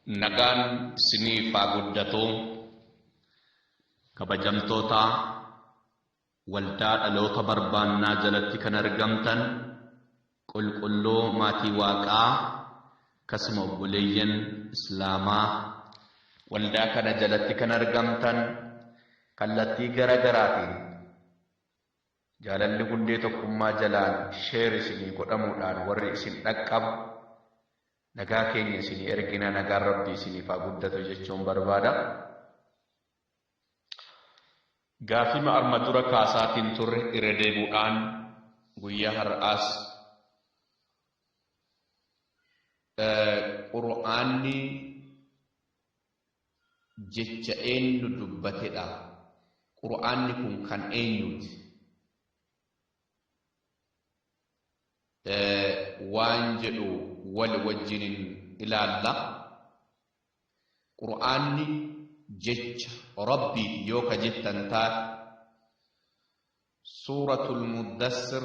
Nagaan siniif haa guddatu kabajamtoota waldaa dhaloota barbaannaa jalatti kan argamtan qulqulluu maatii waaqaa akkasuma obboleeyyan islaamaa waldaa kana jalatti kan argamtan kallattii gara garaatiin Jaalalli hundee tokkummaa jalaan share isinii godhamuudhaan warri isin dhaqqabu nagaa keenya isinii ergina nagaan rabbii isiniif haa guddatu jechuun barbaada. Gaafima arma dura kaasaatiin turre irra deebuudhaan guyyaa har'aas Qur'aanni jecha eennu dubbatedha? Qur'aanni kun kan eenyuuti? waan jedhu wal wajjinin ilaalla. Qur'aanni jecha Rabbiiti yoo ka jettan taate suuratul muddassir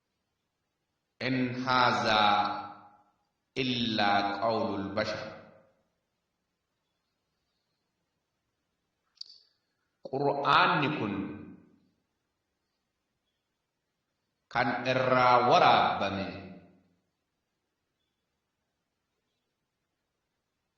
in haazaa illaa qawlul bashar qur'aanni kun kan irraa waraabbame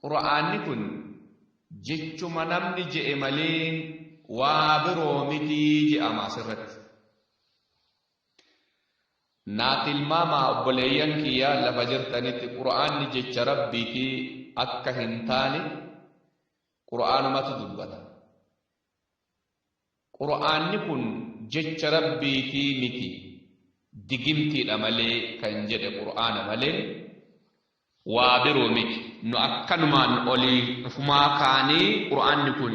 Qur'aanni kun jechuma namni je'e malee waa biroo miti je'ama asirratti. Naa tilmaamaa obboleeyyan kiyya lafa jirtanitti Qur'aanni jecha Rabbiiti akka hin taane Qur'aanumatu dubbata. Qur'aanni kun jecha Rabbiitii miti, digimtiidha malee kan jedhe Qur'aana malee waa biroo miti. Nu akkanumaan olii ufumaa kaanee Qur'aanni kun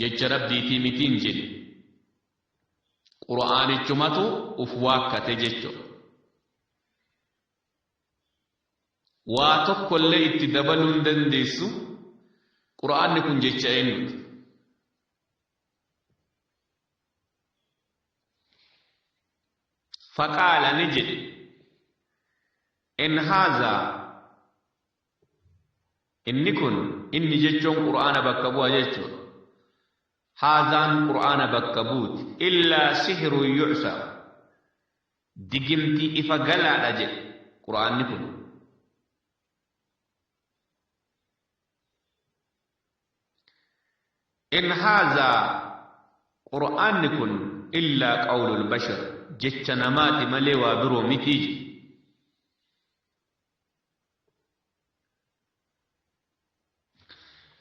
jecha Rabbiitii miti hin jenne. Qur'aanichumatu uf waakkate jechuudha. Waa tokko illee itti dabaluu hin dandeessu. Qur'aanni kun jecha eenyuuti? Faqaala ni jedhe. In haazaa inni kun inni jechuun Qur'aana bakka bu'a jechuudha. Haazaan Qur'aana bakka buuti. Illaa sihiruu yu'sa. Digimti ifa galaadha jedhe Qur'aanni kun. In haazaa Qur'aanni kun illaa qawlul bashar jecha namaati malee waa biroo mitii jedhe.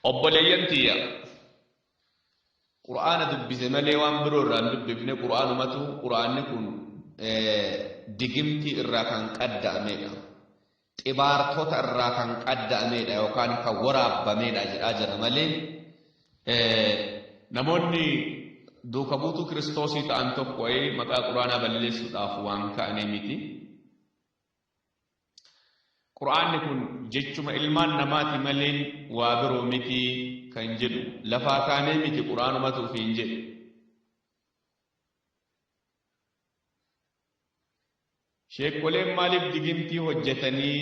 obboleeyyan tiyya qur'aana dubbise malee waan biroo irraa hin dubbifne qur'aanumatu qur'aanni kun digimtii irraa kan qadda'ameedha xibaartota irraa kan qadda'ameedha yookaan kan waraabbameedha jedhaa jira malee namoonni duuka buutuu kiristoosii ta'an tokko wayii maqaa qur'aanaa balleessuudhaaf waan ka'anii miti Qur'aanni kun jechuma ilmaan namaati maleen waa biroo miti kan jedhu lafaa kaanee miti qur'aanumatu ofiin jedhe. Sheekkoleen maaliif digimtii hojjetanii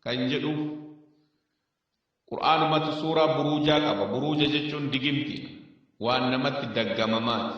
kan jedhu qur'aanumatu suuraa buruujaa qaba. Buruuja jechuun digimtiidha. Waan namatti daggamamaati.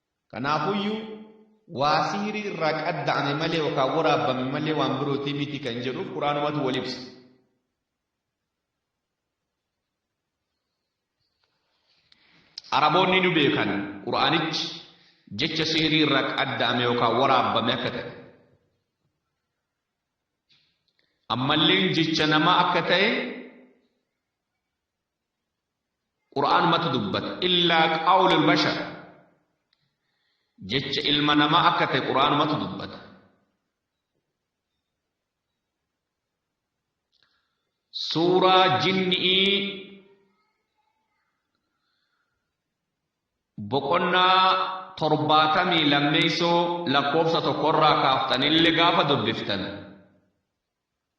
Kanaafuyyuu, waa sihrii irraa qadda'ame malee yookaan waraabbame malee waan birootii miti kan jedhuuf Qur'aanumatu wal ibsa. Araboonni nu beekan Qur'aanichi jecha sihrii irraa qadda'ame yookaan waraabbame akka ta'e. Ammalleen jecha namaa akka ta'e Qur'aanumatu dubbata. Illaa qawlul bashar. Jecha ilma namaa akka ta'e Qur'aanumatu dubbata. Suuraa jinni'ii boqonnaa torbaatamii lammeessoo lakkoofsa tokkorraa kaaftanillee gaafa dubbiftan.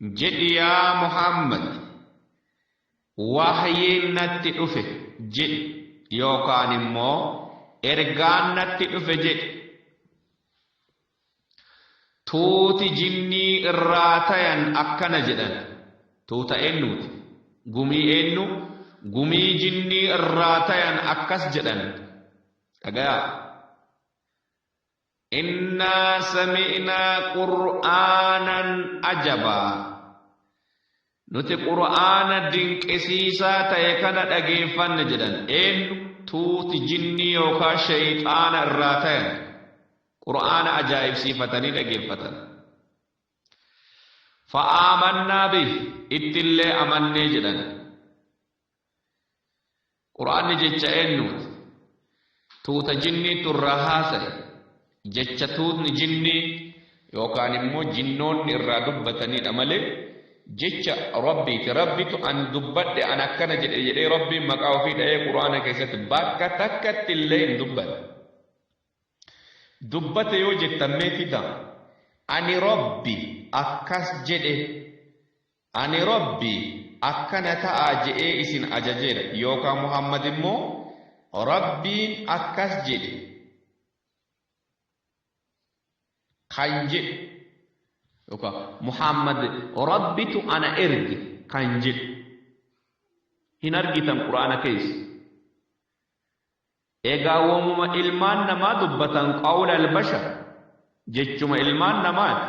Jedhi yaa Muhammad, Wahyiin natti dhufe jedhi yookaan immoo Ergaan natti dhufe jedhi. Tuuti jinnii irraa tayan akkana jedhan, Tuuta eennuuti? Gumii eennu? Gumii jinnii irraa tayan akkas jedhan, Dhagayaa! Innaa sami'naa qur'aanan ajabaa. Nuti qur'aana dinqisiisaa ta'e kana dhageeffanne jedhan. Eenyu? Tuuti jinnii yookaa sheyxaana irraa tayan. Qur'aana ajaa'ibsiifatanii dhageeffatan. Fa'aamannaa bih ittillee amannee jedhan. Qur'aanni jecha eennuuti? Tuuta jinniitu irraa haasaye. Jecha tuutni jinnii yookaan immoo jinnoonni irraa dubbataniidha malee jecha Rabbiiti. Rabbitu an dubbadhe an akkana jedhe jedhee Rabbiin maqaa ofii dha'ee Qur'aana keessatti bakka takkatti illee hin dubbanne. Dubbate yoo jettan mee fidaa? Ani Rabbi akkas jedhe Ani Rabbi akkana ta'aa je'ee isin ajajeera yookaa Muhammad immoo Rabbiin akkas jedhe kan jedhu yookaa Muhammad Rabbitu ana erge kan jedhu hin argitan Qur'aana keessa. Egaa womuma ilmaan namaa dubbatan qawla albashar jechuma ilmaan namaati.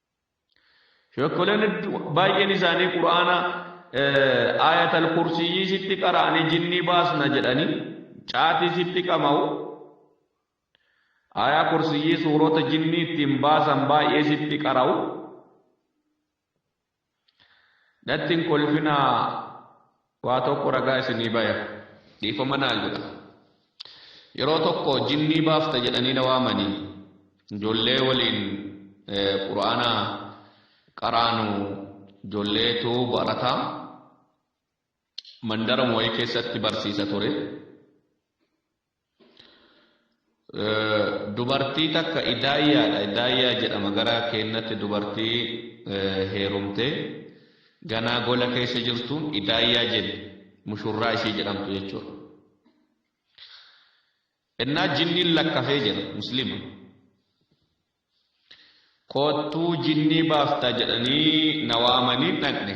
Sheekkoleen baay'een isaanii quraana aayatal kursiyyii sitti qara'anii jinnii baasna jedhanii caatii sitti qama'u aayaa kursiyyii suurota jinnii ittiin baasan baay'ee sitti qara'u Natti hin kolfinaa waa tokko ragaa isinii baya dhiifama naa godha yeroo tokko jinnii baafta jedhanii na waamanii ijoollee waliin quraana qaraanu ijoolleetu barata mandara moo'ee keessatti barsiisa ture. Dubartii takka idaayyaadha idaayyaa jedhama gara keennatti dubartii heerumte ganaa gola keessa jirtuun idaayyaa jenni mushurraa ishii jedhamtu jechuudha. Innaa jinniin lakkafee jira muslima. Koottuu jinnii baafta jedhanii na waamanii dhaqne.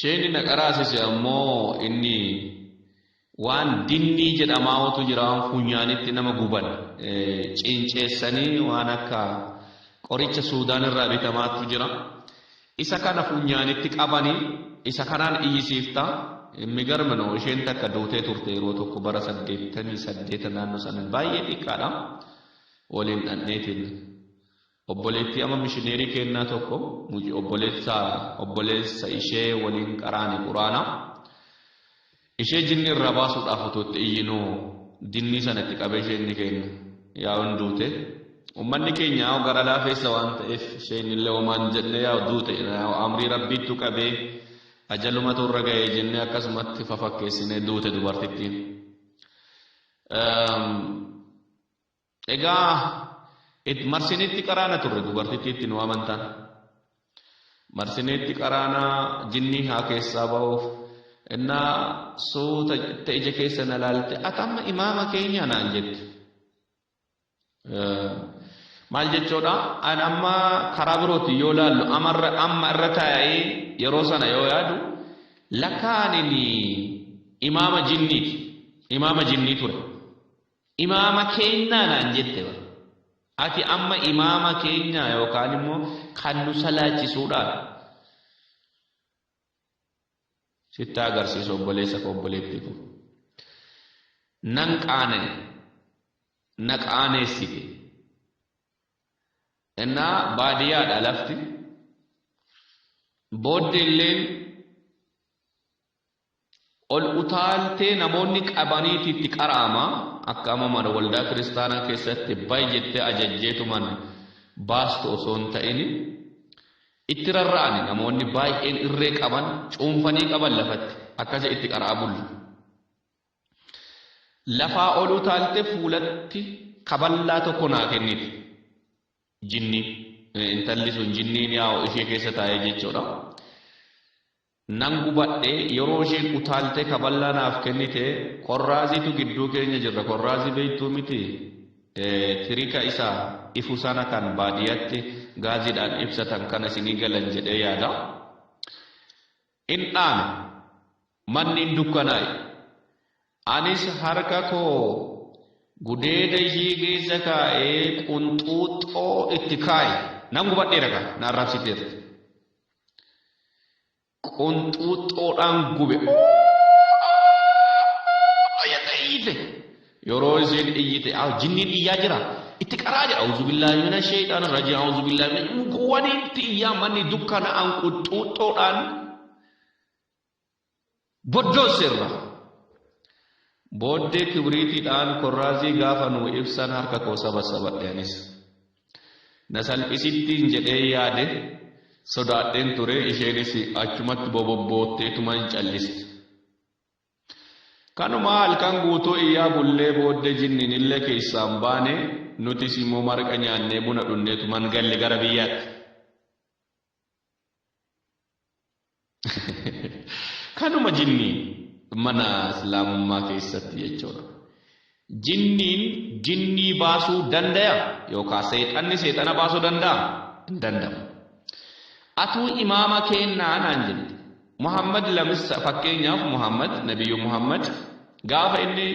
Sheeyni na qaraasise ammoo inni waan dinnii jedhamaawatu jira waan funyaanitti nama guban ciinceessanii waan akka qoricha suudaan irraa bitamaatu jira isa kana funyaanitti qabanii isa kanaan iyyisiifta migarma no isheen takka duutee turte yeroo tokko bara saddeettamii saddeeta naannoo sana baay'ee xiqqaadha waliin dhandheetiin Obboleettii ama mishineerii keennaa tokko muc obboleessa obboleessa ishee waliin qaraane quraana ishee jinni irraa baasuudhaaf utuu itti iyyinu jinnii sana itti qabee ishee inni keenna yaa'un duute ummanni keenya yaa'u gara laafeessa waan ta'eef isheen illee homaan jenne yaa'u duute yaa'u amrii rabbiittu qabee ajalumatu irra ga'ee jennee akkasumatti fafakkeessinee duute dubartittiin. Egaa it marsineetti qaraana turre dubartittiitti nu amantan. Marsineetti qaraanaa jinnii haa keessaa ba'uuf innaa suuta jette ija keessa na laalte ati amma imaama keenya naan jette. Maal jechuudha? An amma karaa birootiin yoo laallu amarra amma irra taa'ee yeroo sana yoo yaadu lakkaa ani imaama jinniiti. Imaama jinnii ture. Imaama keennaa naan jette bar. Ati amma imaama keenyaa yookaan immoo kan nu salaachisuudhaan sitti agarsiisu obboleessa koo obboleettii koo. Nan qaana'e na qaaneessite. Innaa baadiyyaadha lafti. Booddee illeen Ol utaaltee namoonni qabaniiti itti qara'ama, akka amma mana waldaa kiristaanaa keessatti ba'i jettee ajajjeetuman baastu osoo hin ta'ini. Itti rarra'ani namoonni baay'een irree qaban cuunfanii qaban lafatti akkasi itti qara'aa bulla. Lafaa ol utaalte fuulatti kaballaa tokko naa kennite. Jinni intalli sun jinniin yaa'u ishee keessa taa'ee jechuudha. Nan gubadhe, yeroo isheen utaaltee kaballaa naaf kennite, Korraaziitu gidduu keenya jirra, Korraazii beektuu mitii? Ee, tirika isa ifu sana kan baadiyaatti gaaziidhaan ibsatan kana isinii galan jedhee yaada. In dhaame. Manni in dukkanaa'e. Anis harka koo gudeeda ishii keessa kaa'ee qunxuuxxoo itti kaa'e. Nan gubadheera kaa, na arrabsiteerti. qunxuuxxoodhaan gube jette iyyite yeroo isheen iyyite aa jinniin iyyaa jira itti qaraa jedha auzu billaahi mina sheeyxaan rajii auzu billaahi mina wani itti iyyaa manni dukkana'aan qunxuuxxoodhaan boddoosse irra. Booddee kibriitiidhaan korraazii gaafa nuu ibsan harka koo sabassabadhe anis. Na salphisittiin jedhee yaade sodaadheen ture isheenis achumatti bobobbootteetuma hin calliste. Kanumaa halkan guutuu iyyaa bullee booddee jinniin illee keessaan baane nutis immoo marqa nyaannee buna dhunneetuman galle gara biyyaatti. Kanuma jinni mana islaamummaa keessatti jechuudha. Jinniin jinnii baasuu dandaya yookaan seexanni seexana baasuu danda'a hin danda'u. Atuu imaama keennaa naan jette. Muhammad lamissa fakkeenyaaf Muhammad nabiyyu Muhammad gaafa inni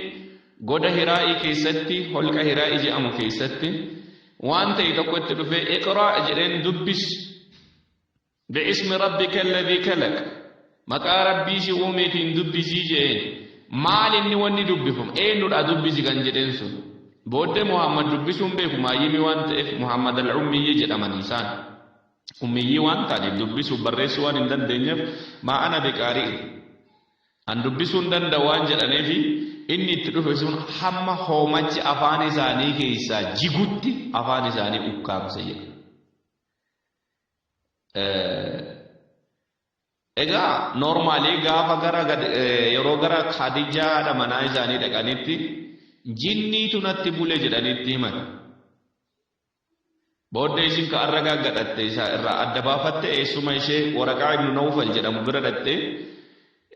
goda hiraa'ii keessatti holqa hiraa'ii jedhamu keessatti waan ta'e tokko itti dhufee iqraa jedheen dubbis bi'ismi rabbika alladhii kalaq maqaa rabbii si uumeetiin dubbisii jedheen maal inni wanni dubbifamu eenyudha dubbisi kan jedheen sun booddee muhammad dubbisuun beeku maayyimii waan ta'eef muhammad al-ummiyyii jedhaman isaan ummiyyii waan ta'aniif dubbisuuf barreessuu waan hin dandeenyeef maa ana biqaari'u An dubbisuu hin danda'u waan jedhaneefi inni itti dhufe sun hamma hoomachi afaan isaanii keessaa jigutti afaan isaanii ukkaamse jedha. Egaa noormaalii gaafa gara yeroo gara Khadijaa haadha manaa isaanii dhaqanitti jinniitu natti bule jedhanitti himan. Booddee ishiin ka arra gaaggadhatte isa irraa adda baafatte eessuma ishee Waraqaa ibnu Nawfal jedhamu bira dhaxxee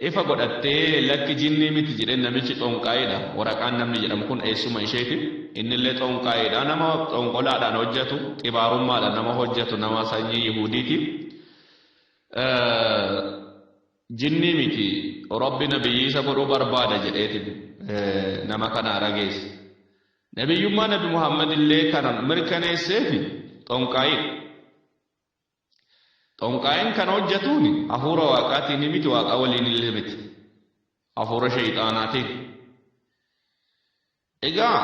ifa godhattee lakki jinnii miti jedheen namichi xoonqaayeedha Waraqaan namni jedhamu kun eessuma isheeti innillee xoonqaayeedha nama xoonqolaadhaan hojjatu xibaarummaadhaan nama hojjatu nama sanyii Yihuudiiti jinnii miti Rabbi nabiyyiisa godhuu barbaada jedheetiin nama kana rageesse Nabiyyummaa Nabi Muhammad illee kan mirkaneesseefi xonqaayiidha. Xonqaayin kan hojjatuun hafuura waaqaatiin miti waaqaa waliin illee miti. Hafuura sheeyxaanaatiin. Egaa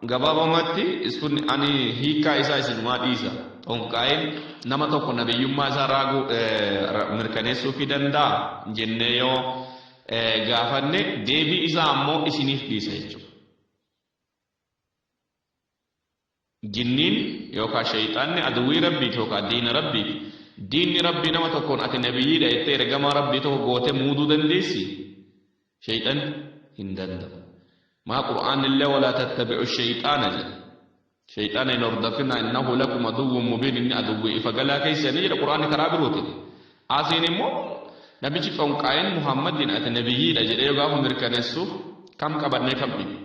gabaabamatti sun ani hiikaa isaa isinumaa dhiisa. Xonqaayin nama tokko nabiyyummaa isaa raaguu mirkaneessuufii danda'a jennee yoo gaafanne deebii isaa ammoo isiniif dhiisa jechuudha. Jinniin yookaa sheyxaanni aduwwii Rabbiiti yookaa diina Rabbiiti. Diinni Rabbii nama tokkoon ati nabiyyiidha jettee ergamaa Rabbii tokko gootee muuduu dandeessii? Sheyxanni hin danda'u. Maa Qur'aannillee walaa tattabi'u sheyxaana jedha. Sheyxaana hin hordofinaa innahu lakum aduwwun mubiin inni aduwwii ifa galaa keessanii jedha qur'aanni karaa birootiin. Asiin immoo namichi xonqaayin Muhammadiin ati nabiyyiidha jedhee yoo gaafa mirkaneessu kam qabannee kam dhibu.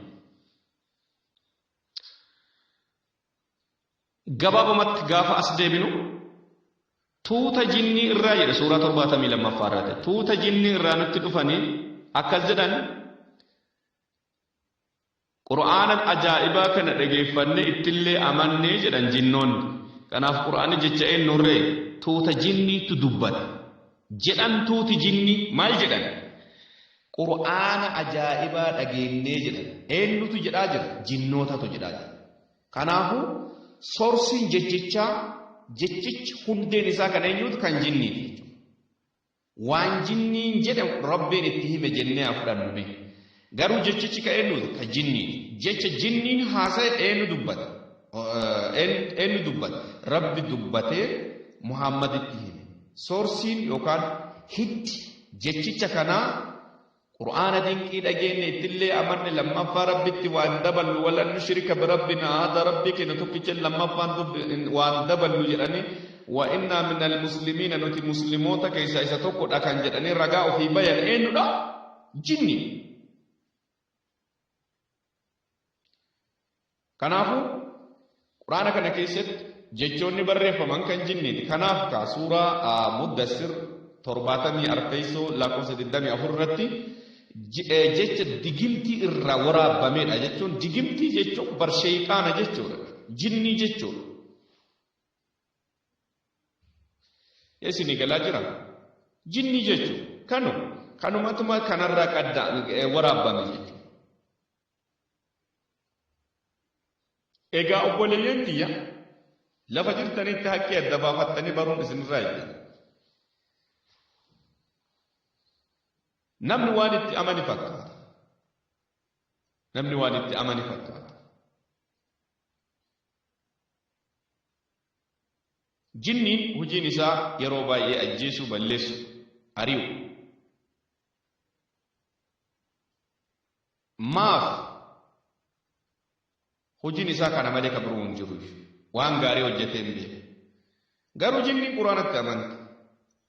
Gabaabumatti gaafa as deebinu tuuta jinnii irraa jedha suuraa torbaatamii lammaffaa irratti tuuta jinnii irraa nutti dhufanii akkas jedhan Qur'aanan ajaa'ibaa kana dhageeffannee ittillee amanne jedhan jinnoonni. Kanaaf Qur'aanni jecha eennuurree? Tuuta jinniittu dubbate. Jedhan tuuti jinnii maal jedhan? Qur'aana ajaa'ibaa dhageennee jedhan. Eennutu jedhaa jira? Jinnootatu jedhaa jira. Kanaafu soorsiin jechichaa jechichi hundeen isaa kan eenyuuti? Kan jinniiti jechuudha. Waan jinniin jedhe Rabbiin itti hime jennee haa fudhannu mee. Garuu jechichi ka eennuuti? Ka jinniiti. Jecha jinniin haasaye eennu dubbate? Eennu dubbate? Rabbi dubbatee Muhammaditti hime. Soorsiin yookaan hiddi jechicha kanaa Qur'aana dinqii dhageenne ittillee amanne lammaffaa rabbitti waan daballu walan nushrika birabbina ahada rabbii keenya tokkicha lammaffaan waan daballu jedhanii wa innaa minal muslimiina nuti muslimoota keessaa isa tokkodha kan jedhanii ragaa ofii bayan eenyudha jinni Kanaafuu, Qur'aana kana keessatti jechoonni barreeffaman kan jinniiti. Kanaaf kaa suuraa Muddassir 74ffeessoo lakkoofsa 24 irratti jecha digimtii irraa waraabbameedha jechuun digimtii jechuun bar sheeyxaana jechuudha. Jinnii jechuudha. Isinii galaa jira. Jinnii jechuun kanu kanumatuma kanarraa qadda waraabbame jechuudha. Egaa obboleeyyan kiyya lafa jirtanitti haqqii adda baafattanii baruun isinirraa eegama. Namni waan itti amane fakkaata. Namni waan itti amane fakkaata. Jinniin hojiin isaa yeroo baay'ee ajjeesuu, balleessu, ari'u. Maaf? Hojiin isaa kana malee ka biroo hin jiru. Waan gaarii hojjetee hin beeku. Garuu jinniin Quraanatti amante.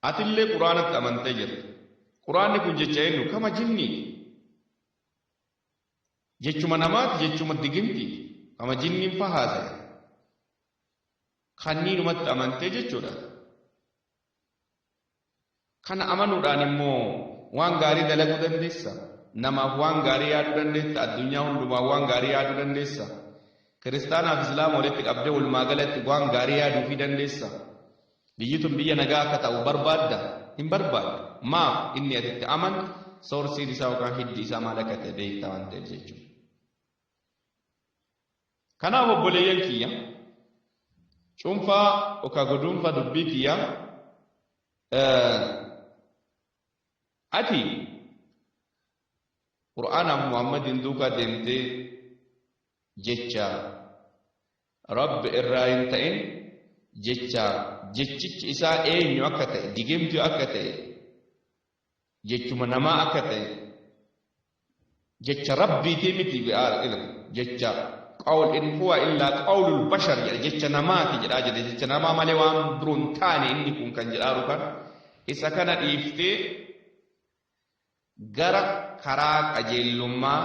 Atillee Quraanatti amantee jirta. Quraanni kun jecha eenyu? Kama jinniiti. Jechuma namaati, jechuma digimtiiti. Kama jinniin fahaase. Kanniinumatti amantee jechuudha. Kana amanuudhaan immoo waan gaarii dalaguu dandeessa. Namaaf waan gaarii yaaduu dandeessa. Addunyaa hundumaaf waan gaarii yaaduu dandeessa. Kiristaanaaf Islaama walitti qabdee walumaa galatti waan gaarii yaaduufii dandeessa. Biyyi tun biyya nagaa akka ta'u barbaadda? Hin barbaaddu. Maaf inni ati itti amantu soorsiin isaa yookaan hiddi isaa maal akka ta'e beektaa waan ta'eef jechuudha. Kanaaf obboleeyyan kiyya cuunfaa yookaan guduunfaa dubbii kiyya ati Qur'aanaaf Muhammadiin duukaa deemtee jecha Rabbi irraa hin ta'in jecha jechichi isaa eenyu akka ta'e digimtuu akka ta'e jechuma namaa akka ta'e jecha rabbiitii miti bi'aal ilm jecha qawl in huwa illaa qawlul bashar jedha jecha namaati jedhaa jedhe jecha namaa malee waan biroo hin taane inni kun kan jedhaaru kan isa kana dhiiftee gara karaa qajeellummaa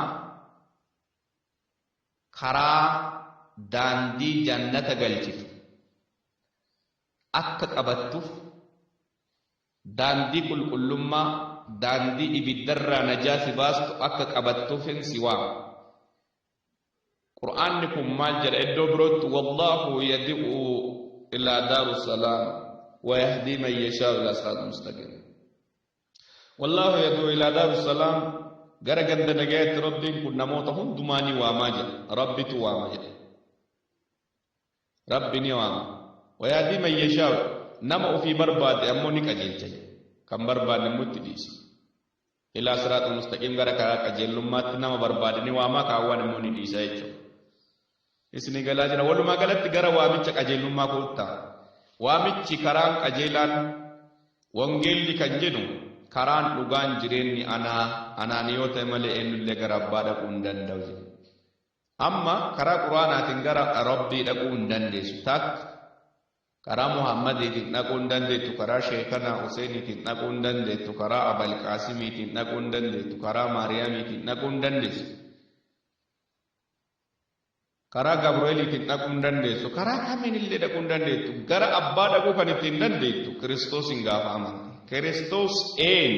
karaa daandii jannata galchitu akka qabattuuf Daandii qulqullummaa, daandii ibiddarraa najaa si baastu akka qabattuufin si waama. Qur'aanni kun maal jedha iddoo birootti wallaahu yad'u ilaa daaru salaam wa yahdii man yashaa'u ilaa siraaxin mustaqiim. Wallaahu yad'u ilaa daaru salaam gara ganda nagayaatti Rabbiin kun namoota hundumaa ni waamaa jedha. Rabbitu waama jedha. Rabbi ni waama. Wayahdii man yashaa'u nama ofii barbaade ammoo ni qajeelcha jedhe. Kan barbaanne immoo itti dhiisa. Ilaa siraaxil mustaqiim gara karaa qajeellummaatti nama barbaade ni waama kaawwan immoo ni dhiisa jechuudha. Isinii galaa jira. Walumaa galatti gara waamicha qajeellummaa koottaa. Waamichi karaan qajeelaan wangeelli kan jedhu karaan dhugaan jireenyi anaa anaan yoo ta'e malee eenyullee gara abbaa dhaquu hin danda'u jedhe. Amma karaa qur'aanaatiin gara Rabbii dhaquu hin dandeessu takka karaa Muhammadiitiin dhaquu hin dandeettu karaa Sheekanaa Huseeniitiin dhaquu hin dandeettu karaa Abal Qaasimiitiin dhaquu hin dandeettu karaa Maariyaamiitiin dhaquu hin dandeessu karaa Gabreeliitiin dhaquu hin dandeessu karaa kamiin illee dhaquu hin dandeettu gara abbaa dhaquu kan ittiin dandeettu Kiristoosiin gaafa amante Kiristoos een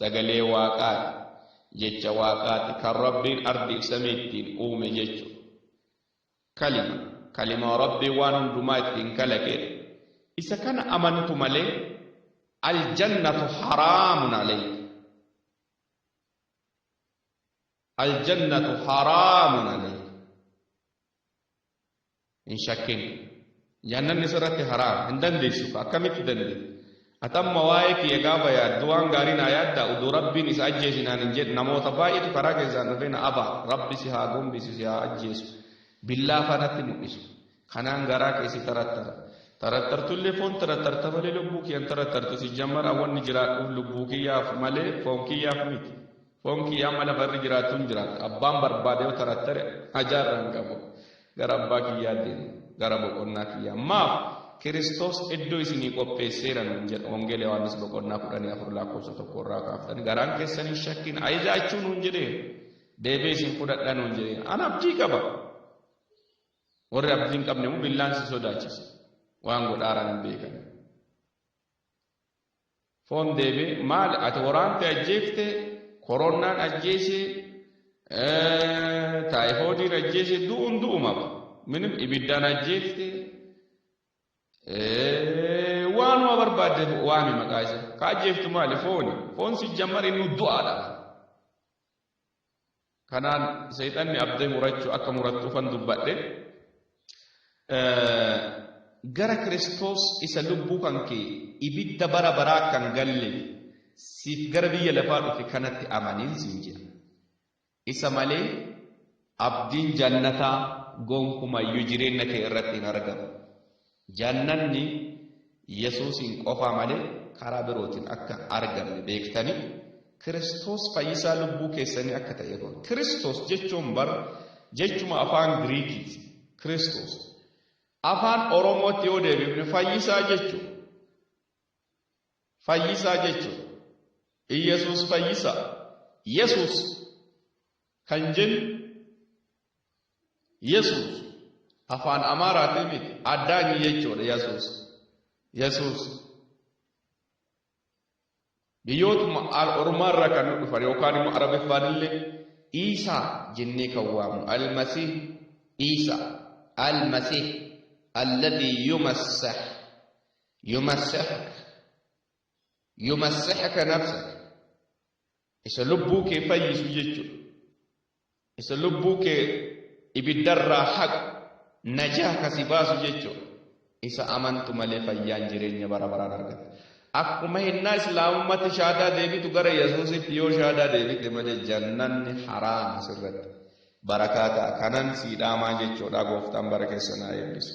sagalee waaqaati Jecha Waaqaati kan Rabbiin ardiif samii ittiin uume jechu. Kalima, kalimaa Rabbiin waan hundumaa ittiin kalaqeedha. Isa kana amantu malee aljannatu haraamun alayka. Aljannatu haraamun alayka. hin shakkin jahannamni sirratti haraam hin dandeessu akkamitti dandeessu ati amma waa'ee kiyya gaafa yaaddu waan gaarii naa yaadda uduu rabbiin isa ajjeesi naan hin jedhe namoota baay'eetu karaa keessaan dhufee na aba rabbi si haa gombisu si haa ajjeesu billaa fanatti mul'isu kanaan garaa keessi tarattara tarattartullee foon tarattarta malee lubbuu kiyyan tarattartu si jammara wanni jiraadhuuf lubbuu kiyyaaf malee foon kiyyaaf miti Foon kiyya amma lafa irra jiraattuun jiraata. Abbaan barbaade yoo tarattare hajaa irraa hin qabu. Gara abbaa kiyyaa deema. Gara boqonnaa kiyyaa. Maaf? Kiristoos iddoo isinii qopheesseera nuun jedha. Wangeela Yohaannis boqonnaa kudhanii afur lakkoofsa tokko irraa kaaftanii garaan keessan hin shakkin ajaa'achuu nuun jedhee deebee isin fudhadha nuun jedhee an abdii qaba. Warri abdii hin qabne immoo billaan si sodaachisa. Waan godhaaran hin beekan. Foon deebi'e maali ati waraante ajjeefte koronnaan ajjeese taayifoodiin ajjeese du'uun du'uma minim ibiddaan ajjeefte waanuma barbaadde waami maqaa isa ka ajjeeftu maali fooni foon si jammar inni du'aadha Kanaan seexanni abdee murachuu akka murattuufan dubbadhe. Gara Kiristoos isa lubbuu kan kee ibidda bara baraa akka hin galleef siif gara biyya lafaa dhufe kanatti amaniin siin jedha. Isa malee abdiin jannataa gonkumayyuu jireenya kee irratti hin argamu. Jannanni Yesuusiin qofaa malee karaa birootiin akka hin argamne beektanii, Kiristoos fayyisaa lubbuu keessanii akka ta'e godha. Kiristoos jechuun bar jechuma afaan Giriikiiti. Kiristoos. Afaan Oromootti yoo deebifne fayyisaa jechuun fayyisaa jechuun Iyyasuus fayyisaa Yesuus kan jennu Yesuus afaan Amaaraatii miti addaanyi jechuudha Yesuus. Yesuus biyyootuma ormaarraa kan nu dhufan yookaan immoo arabiffaan illee Iisaa jennee kan waamu almasih Iisaa almasih alladii yumassah yumassahaka yumassahaka nafsaka isa lubbuu kee fayyisu jechuudha. Isa lubbuu kee ibiddarraa haqu najaa kasi baasu jechuun isa amantu malee fayyaan jireenya bara baraan argata. Akkuma hennaa islaamummaatti shaadaa deebitu gara Yesuusitti yoo shaadaa deebite malee jannanni haraama sirratti. Barakaa ta'a kanan sii dhaamaa jechuudha gooftaan bara keessa naa eebbisu.